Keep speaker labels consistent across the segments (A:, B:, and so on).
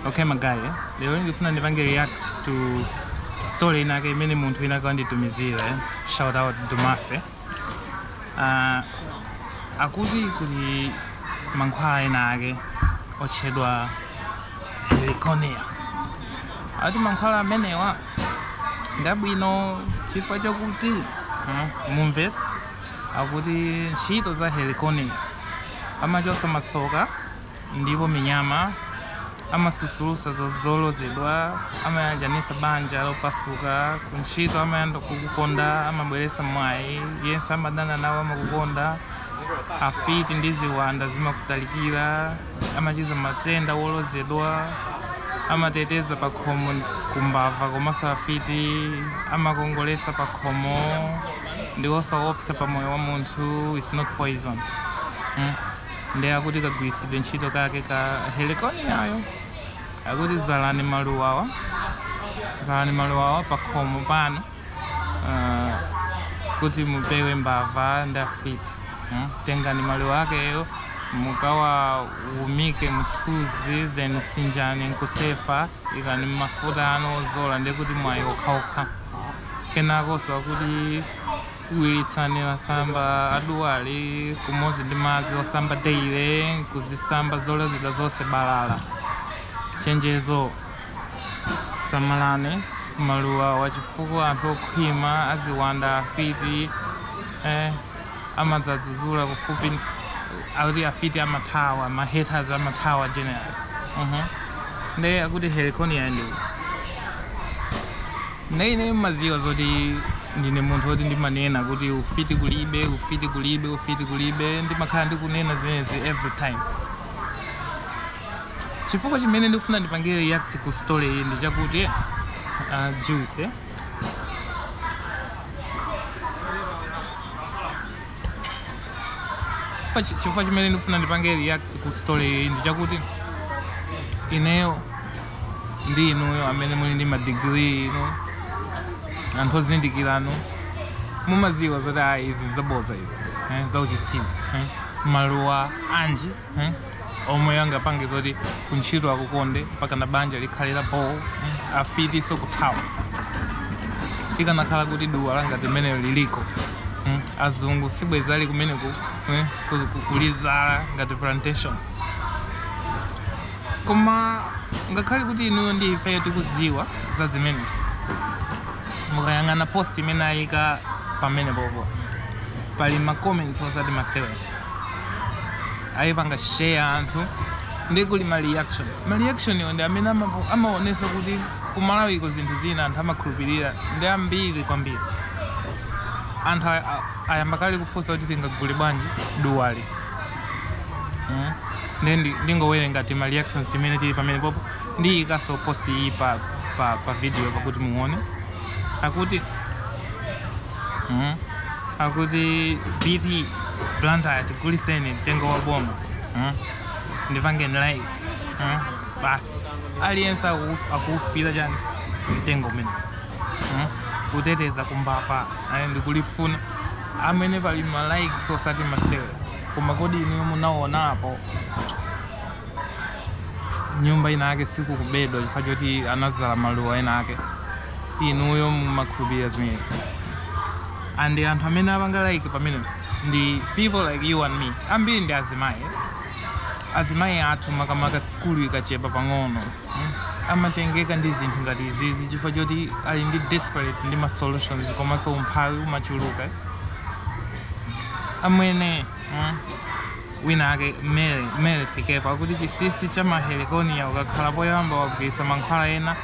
A: Okay magaye, lero ndikufuna ndipange react to story inake imene munthu inake wanditumizira eh? shout out Dumase uh, akuti kuli mankhwala enaake otchedwa heliconia ati mankhwala amenewa ndabwino chifukwa chakuti uh, mumve akuti ntchito za heliconia amachotsa matsoka Ndipo minyama amasusulutsa zolozedwa, amayanjanitsa banja lopasuka, kuntchito amayamba kukukonda, amabweretsa mwayi, yense amadana nawe amakukonda, afiti ndi ziwanda zimakutalikira, amachiza matenda olozedwa, amateteza pakhomo ku mbava komanso afiti, amakongoletsa pakhomo, ndi osaopsa pa moyo wa munthu, it's not poison. ndi akuti kagwiritsidwe ntchito kake ka heliconiayo akuti zalani maluwawa zalani maluwawa pakhomo panu uh, kuti mupewe mbava ndi afiti mm? tengani maluwa akeyo mukawawumike m'mthunzi then sinjani nkusefa ikani m'mafuta anu odzola ndekuti mwayi wokhawokha kenakonso akuti Wiritsani masamba a duwali limodzi ndi madzi osamba daily nkuzisamba zolozedwa zonse balala. Chenjezo, Samalani maluwawa chifukwa anthu okhwima, aziwanda, afiti eh, amadzazuzula kufupi akuti afiti amathawa ma haters amathawa general uh -huh. Nde akuti heliconia ndi nde ine maziwa zoti Ndine munthu oti ndimanena kuti ufiti kulibe, ufiti kulibe, ufiti kulibe. Ndimakhala ndikunena zimenezi every time. Chifukwa chimene ndikufuna ndipangire react ku story iyi ndi chakuti uh, Juice eh? Chifukwa chi- chifukwa chimene ndikufuna ndipange react ku story iyi ndi chakuti ineyo ndi inuyo amene muli ndi madigiri inu anthu ozindikiranu mumaziwa zoti ayi izi zaboza izi eh, zauchitsiru eh. maluwa anji mm? omwe angapange zoti kuntchito akukonde mpaka na banja likhale la bho mm? afitiso kuthawa ikanakhala kuti duwa langati limenelo liliko mm? azungu sibwezi ali kumene ku, eh, ku, ku, kulizala ngati plantation koma ngakhale kuti inuyo ndi ifeyo tikuziwa za zimenezi mukayang'ana post imene ayika pamenepopo pali ma comments osati masewera ayipanga share anthu ndi kuli ma reaction ma reaction yo ndi amene amapo- amaonesa kuti kumalawiko zinthu zina anthu amakhulupirira ndi ambiri kwambiri anthu a- a- ayamba kale kufunsa kuti tingagule bwanji duwali? Mm. Ndi- ndi- ndingowerenga ti ma reactions timene tili pamene popo ndiyikaso post iyi pa, pa, pa video pakuti muone akuti mm? akuti bt blantyre tiguliseni mtengo wa boma mm? ndipangeni like mm? basi aliyense aku- akuufira chani mtengo umene mm? kuteteza kumbava ayi ndikulifuna amene pali ma likes osati masewe koma kodi inuyo munaonapo nyumba ina yake sikukubedwa chifukwa choti anadzala maluwa ena ake inuyo mumakhulupirira zimenezi and anthu amene apanga like pamene ndi people like you and me ambiri ndi azimayi azimayi athu makamaka sukulu ikachepa pang'ono mm, amatengeka ndi zinthu ngati izizi chifukwa choti ali ndi desperate ndi ma solutions komanso umphawi umachuluka amwene mm, wina ake mele mele fikepo akuti chisisi cha ma heliconia ukakhala poyamba wagwiritsa mankhwala ena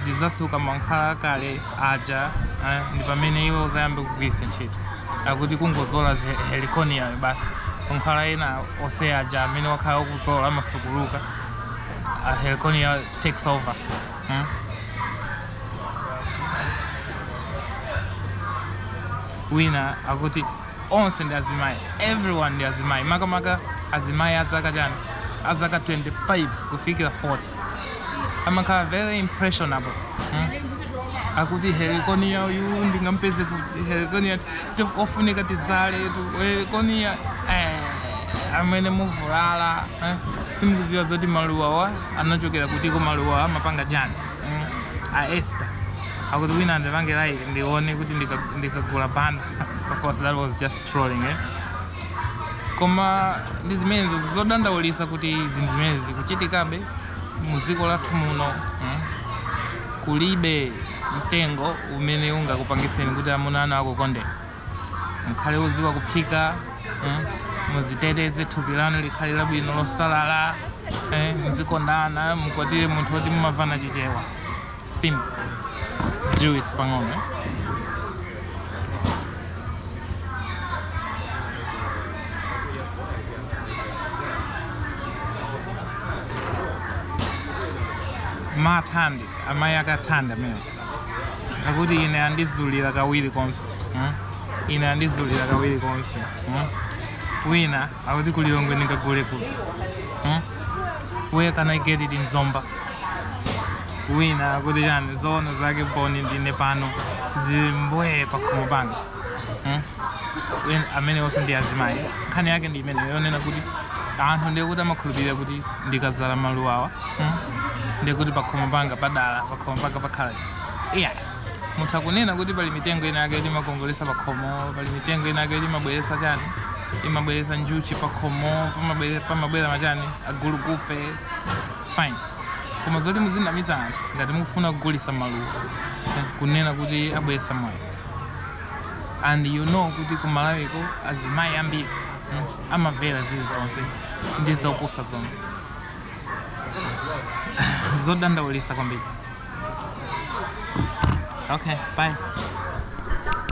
A: zidzasuka mankhwala akale aja eh, ndi pamene iwe uzayambe kugwiritsa ntchito akuti kungozola heliconia basi mankhwala ena ose aja amene wakhala ukuzola amasukuluka uh, heliconia takes over hmm? wina akuti onse ndi azimayi everyone ndi azimayi makamaka azimayi azaka chani azaka 25 kufikira 40 amakhala very impressionable hmm? akuti heliconia uyu ndingampeze kuti heliconia ofunika tidzaletu heliconia eh, amwene muvulala eh? simukudziwa zoti maluwawa anachokera kutiko maluwawa amapanga chani hmm? a esther akuti wina andipange like ndione kuti ndika- ndikagula banda of course that was just trolling eh? koma ndi zimenezo zodandaulisa kuti zinthu zimene zikuchitikabe mu dziko lathu muno mm? kulibe mtengo umene ungakupangiseni kuti amuna anu akukondeni mukhale oziwa kuphika mm? muziteteze thupi lanu likhale labwino losalala eh? muzikondana mukwatire munthu woti mumavana chichewa simple juice pang'ono mathandi amayi akathanda amene akuti ine andidzulira kawiri konse hmm? ine andidzulira kawiri konse hmm? wina akuti ku Lilongwe ndingagule kuti hmm? where can i get it in zomba wina akuti chani zoona zake boni ndine pano zimbwee pakhomo panga hmm? amene onse ndi azimayi nkhani yake ndi imene yonena kuti anthu ndiye kuti amakhulupirira kuti ndikadzala maluwawa hmm? ndiye kuti pakhomo panga padala pakhomo panga pakhala iya munthu akunena kuti pali mitengo ina yake imakongolesa pakhomo pali mitengo ina yake imabweresa chani imabweresa njuchi pakhomo pamabwera machani agulugufe fine koma zoti muzinamiza anthu ngati mukufuna kugulisa maluwa kunena kuti abweresa mwayi and you know kuti ku malawiko azimayi ambiri mm, amavera zilizonse ndi zopusa zomwe zodandaulisa kwambiri okay bye